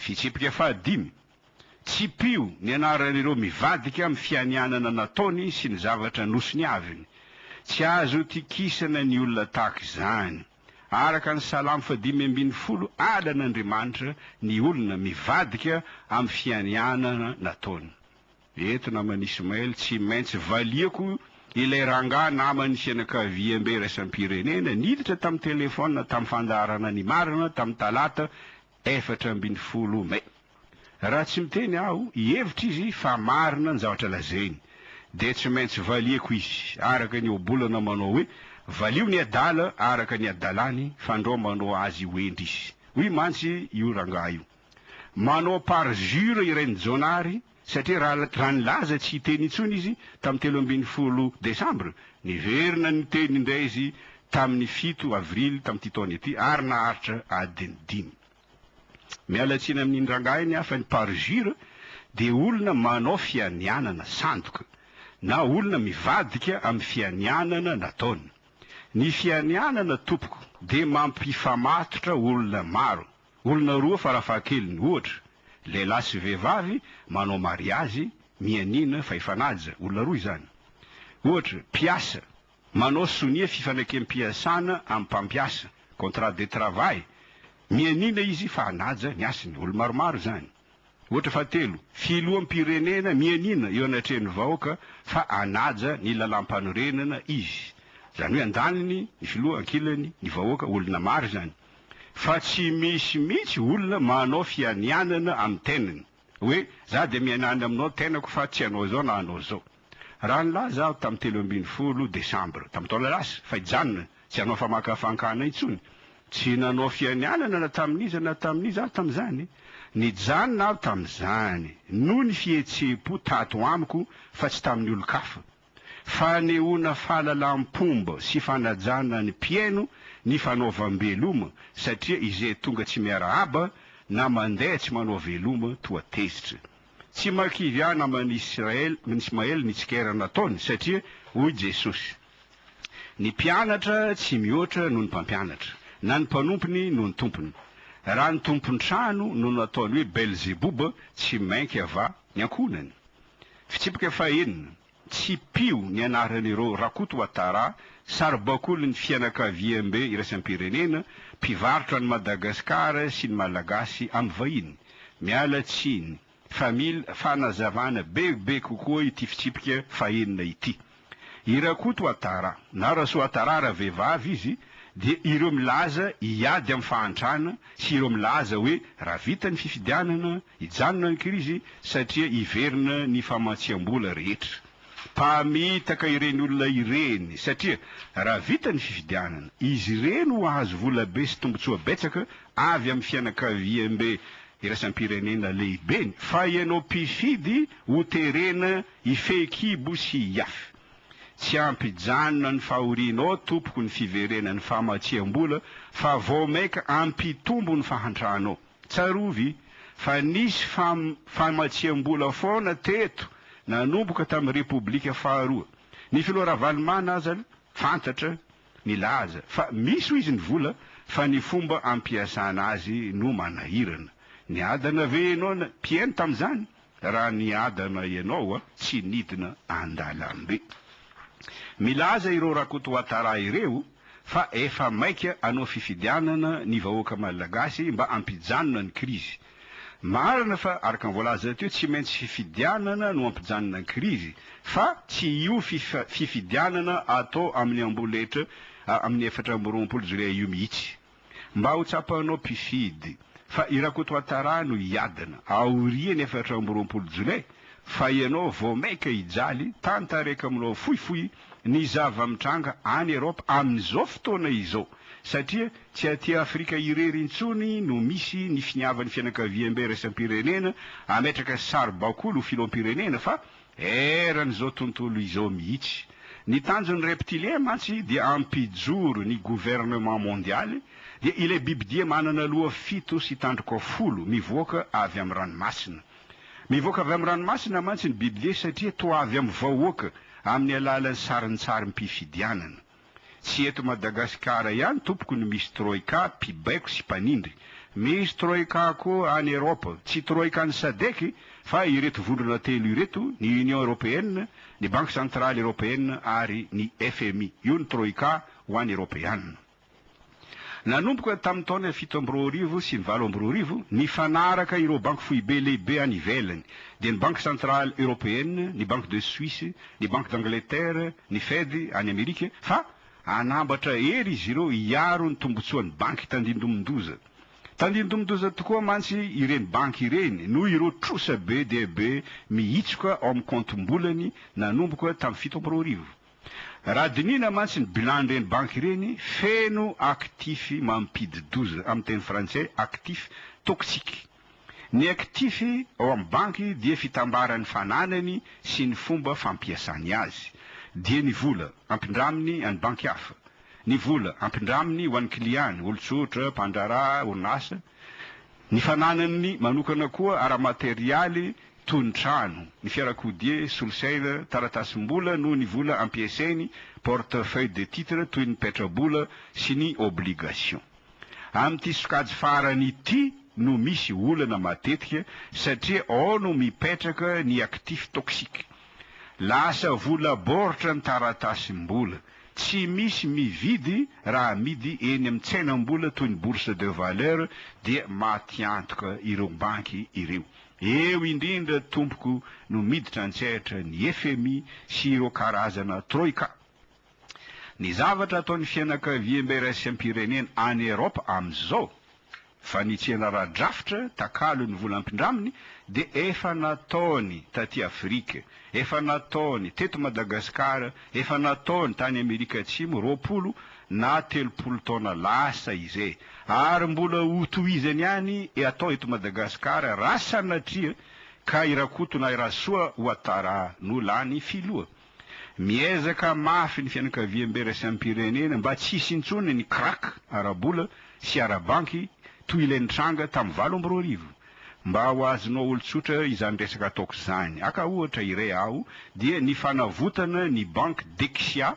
Fitsipika fahadimy, Tsipiho ny anaran'ireo mivadika amin'ny fianianana nataony sy ny zavatra nosoniaviny. Tsy azo itokisana ny olona tahaka izany. Araka ny Salamo fahadimy ambin'ny folo, halan'Andriamanitra ny olona mivadika amin'ny fianianana nataony. Eto naman'i Ismaël tsy maintsy valiako ilay rangahy naman'ny fianakaviambe iraisam-pirenena niditra tamin'ny telefaonina tamin'ny fandaharana Ny Marina tamin'ny talata efatra ambin'ny folo mey. Raha tsy miteny aho, hihevitra izy fa marina ny zavatra lazainy, dia tsy maintsy valiako izy araka ny ohabolana manao hoe, Valio ny adala araka ny adalany, fandrao manao azy ho hendry izy. Hoy mantsy io rangahy io, manao parjure i Rainijaona ary, satria raha raha nilaza tsy hiteny intsony izy tamin'ny telo ambin'ny folo desambra, niverina niteny indray izy tamin'ny fito avrily tamin'ity taona ity ary naharitra adiny dimy. Miala tsiny amin'iny rangahy iny aho fa ny parjure dia olona manao fianianana sandoka na olona mivadika amin'ny fianianana nataony. Ny fianianana tompoko dia mampifamatotra olona maro. Olona roa farafahakeliny, ohatra, lehilahy sy vehivavy manao mariazy, mianiana, fa hifanaja, olona roa izany. Ohatra, mpiasa, manao sonia fifanakem-piasana amin'ny mpampiasa, contrat de travail, mianiana izy fa hanaja ny hasiny, olo-maromaro izany. Ohatra fahatelo, Filoham-pirenena mianiana eo anatrehan'ny vahoaka fa hanaja ny lalàmpanorenana izy. Izany hoe andaniny ny filoha, ankilany ny vahoaka, olona maro izany. Fa tsy misy mihitsy olona manao fianianana amin'ny tenany, hoe za dia mianiana aminao tenako fa tsy hanao izao na hanao izao. Raha nilaza aho tamin'ny telo ambin'ny folo Desambra tamin'ny taona lasa fa hijanona tsy hanao famakafankana intsony, tsy nanao fianianana na tamin'iza na tamin'iza aho tamin'izany. Nijanona aho tamin'izany noho ny fihetseham-po tato amiko fa tsy tamin'ny olon-kafa. Fanehoana fahalalam-pomba sy fanajana ny mpihaino ny fanaovam-beloma satria izay tonga tsy miarahaba na mandeha tsy manao veloma toa tezitra. Tsy makivy ahy naman'i Israely, Ismael mitsikera nataony satria hoy Jesosy, Ny mpianatra tsy mihoatra noho ny mpampianatra, na ny mpanompony noho ny tompony. Raha ny tompon-trano no nataony hoe Belzeboba, tsy mainka va ny ankohonany? Fitsipika fahenina. Tsipiho ny anaran'ireo Rakoto Ouattara, saribakolin'ny fianakaviambe iraisam-pirenena, mpivarotra an'i Madagasikara sy ny Malagasy amin'ny vahiny. Miala tsiny, famille, fanazavana bebe kokoa ity fitsipika fahenina ity. I Rakoto Ouattara, na Rasoattara raha vehivavy izy, dia ireo milaza hiady amin'ny fahantrana sy ireo milaza hoe raha vita ny fifidianana, Hijanona ny krizy satria hiverina ny famatsiam-bola rehetra. Mpamitaka ireny olona ireny satria raha vita ny fifidianana, izy ireny ho hahazo volabe sy tombontsoa betsaka avy amin'ny fianakaviambe iraisam-pirenena lehibeny fa ianao mpifidy ho terena hifehy kibo sy hiafy. Tsy hampijanona ny fahorianao tompoko ny fiverenan'ny famatsiam-bola fa vao maika hampitombo ny fahantranao. Tsarovy fa nisy fam famatsiam-bola foana teto nanomboka tamin'ny Repoblika faharoa. Ny Filoha Ravalomanana azany fantatra milaza fa misy hoy izy ny vola fa ny fomba ampiasana azy no manahirana. Niadana ve ianao na mpihaino tamin'izany? Raha niadana ianao a, tsy nidina andalambe. Milaza ireo Rakotoatara ireo fa efa maika hanao fifidianana ny vahoaka Malagasy mba hampijanona ny krizy. Marina fa araka ny voalaza teo tsy maintsy fifidianana no hampijanona ny krizy fa tsy io fifidianana atao amin'ny amboletra amin'ny efatra amby roapolo jolay io mihitsy. mba ho tsapanao mpifidy fa i Rakotoatara no hiadina aorian'ny efatra amby roapolo jolay fa ianao vao mainka hijaly tantareka aminao fohifohy ny zava-mitranga any Europe amin'izao fotoana izao satria tsy aty Afrika irery intsony no misy ny finiavan'ny fianakaviambe iraisam-pirenena ametraka saribakoly ho filoham-pirenena fa Eran' izao tontolo izao mihitsy. Ny tanjon' ny reptilien mantsy dia hampijoro ny gouvernement mondialy, dia ilay bibidia manana loha fito sy tandroka folo mivoaka avy amin' ny ranomasina. Mivoaka avy amin' ny ranomasina mantsy ny bibidia satria toa avy amin' ny vahoaka amin' ny alalan' ny sarintsari-mpifidianana. Tsy eto Madagasikara ihany tompoko no misy troika mpibaiko sy mpanindry. Misy troika koa any Europe. Tsy troika an'ny Sadec fa ireto vondrona telo ireto, ny Union Europeenne, ny Banque Centrale Europeenne ary ny fmi. Io ny troika ho an'ny Eropeana. Nanomboka tamin'ny taona fito amby roa arivo sy ny valo amby roa arivo, nifanaraka ireo banky foibe lehibe any ivelany, dia ny Banque Centrale Européenne, ny Banque de Suisse, ny Banque d'Angleterre, ny Fed any Amerika, fa hanambatra hery izy ireo hiaro ny tombontsoan'ny banky tandindomin-doza. Tandindomin-doza tokoa mantsy ireny banky ireny noho ireo trosa be dia be mihitsoka ao amin'ny kaontim-bolany nanomboka tamin'ny fito amby roa arivo. Raha dinihina mantsy ny bilan'ireny banky ireny, feno actif mampidi-doza, amin'ny teny frantsay, actif toxique. Ny actif ao amin'ny banky dia fitambaran'ny fananany sy ny fomba fampiasany azy. Dia ny vola ampindraminy any banky hafa, ny vola ampindraminy ho an'ny kiliany, olon-tsotra, mpandraharaha, orinasa, ny fananany manokana koa ara-materialy tonon-trano, ny fiarakodia, solosaina, taratasim-bola noho ny vola ampiasainy, portefeuille de titre toy ny petrabola sy ny obligation. Amin'ity sokajy farany ity no misy olana matetika satria ao no mipetraka ny actif toxique. Lasa vola baoritra ny taratasim-bola, tsy misy mividy raha amidy eny amin'ny tsenam-bola toy ny bourse de valeur dia matiantoka ireo banky ireo. Eo indrindra tompoko no miditra an-tsehatra ny fmi sy ireo karazana troika. Ny zavatra ataon'ny fianakaviam-be raism-pirenena any Europe amin'izao, fanitsiana ara-drafitra takalo ny vola ampindraminy dia efa nataony taty Afrique, efa nataony teto Madagascar, efa nataony tany Amerika Atsimo roapolo na telopolo taona lasa izay ary mbola hotohizany ihany atao eto Madagasikara raha sanatria ka i Rakoto na i Rasoa Ouattara no lany filoha. Miezaka mafy ny fianakaviambe iraisam-pirenena mba tsy hisy intsony ny kraka ara-bola sy ara-banky toy ilay nitranga tamin'ny valo amby roa arivo. Mba ho azonao olon-tsotra izany resaka ataoko izany, aka ohatra iray aho dia ny fanavotana ny banky Dexia,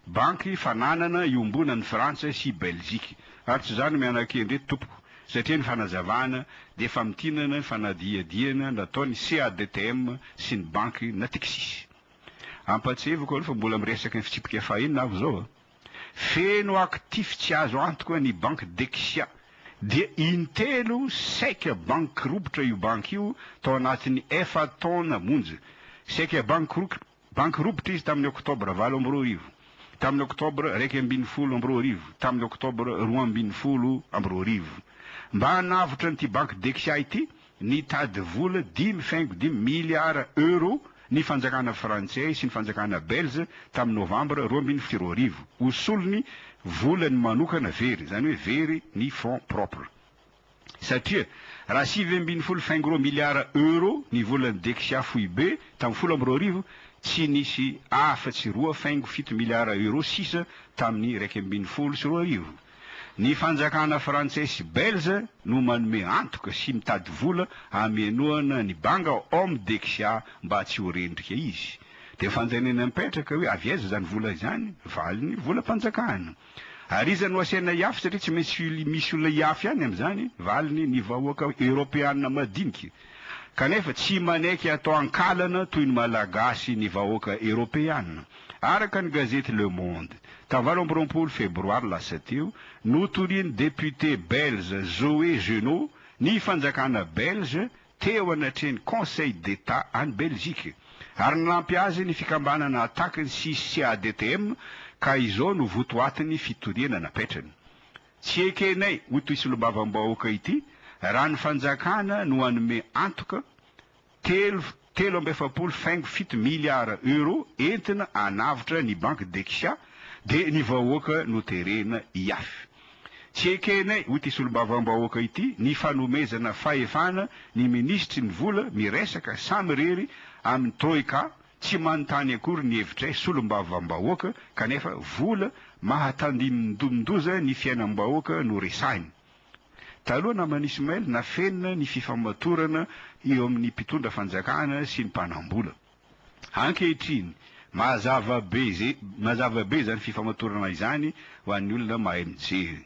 Banky fananana iombonan'i Frantsa sy Belzika. Ary tsy zany mianakendry tompoko satria ny fanazavana dia famintinana ny fanadihadiana nataon'ny CADTM sy ny banky Natixis. Ampahatsiahiviko aloha fa mbola miresaka ny fitsipika fahiny aho zao a! Feno actif tsy azo antoka ny banky Dexia dia intelo saika bankirobotra io banky io tao anatin'ny efa-taona monja. Saika bankirobotra. Banky ropitra izy tamin'ny Oktobra valo amby roa arivo, tamin'ny Oktobra iraika ambin'ny folo amby roa arivo, tamin'ny Oktobra roa ambin'ny folo amby roa arivo. Mba hanavotra an'ity banky Dexia ity, nitady vola dimy faingo dimy miliara Euro ny fanjakana frantsay sy ny fanjakana belge tamin'ny Novambra roa ambin'ny folo sy roa arivo, ho solony volany manokana very, izany hoe very ny fonds propres. satria raha sivy ambin'ny folo faingo'roa miliara euro ny volan'ny Dexia foibe tamin'ny folo amby roa arivo, tsy nisy afa tsy roa faingo fito miliara euro sisa tamin'ny iraika ambin'ny folo sy roa arivo. Ny fanjakana frantsay sy belge no manome antoka sy mitady vola hamenoana ny banga om Dexia mba tsy ho rendrika izy. Dia fanjanena mipetraka hoe avy aiza izany vola izany? Valiny, volam-panjakana. Ary iza no asaina hiafy satria tsy maintsy misy olona hiafy ihany amin'izany? Valiny, ny vahoaka eoropeanina madinika. Kanefa tsy manaiky atao ankalana toy ny Malagasy ny vahoaka eoropeanina. Araka ny gazety Le Monde, tamin'ny valo amby roapolo febroary lasa teo, notorian'ny député belge Zoé Genot ny fanjakana belge teo anatrehan'ny Conseil d'Etat any Belgique ary nanampy azy ny fikambanana Attac ny CCADTM ka izao no votoatin'ny fitoriana napetrany. Tsy ekenay ho toy solombavambahoaka ity raha ny fanjakana no hanome antoka telo telo amby efapolo faingo fito miliara Euro entina hanavotra ny Banque Dexia dia ny vahoaka no terena hiafy. Tsy ekenay, hoy ity solombavambahoaka ity, ny fanomezana fahefana ny minisitry ny vola miresaka samirery amin'ny Troika, tsy manontany akory ny hevitray solombavambahoaka kanefa vola mahatandindomindoza ny fiainam-bahoaka no resahiny. Taloha naman'i Ismail nafenina ny fifamatorana eo amin'ny mpitondra fanjakana sy ny mpanambola. Ankehitriny, mazava be izay mazava be izany fifamatorana izany ho an'ny olona mahay mijery.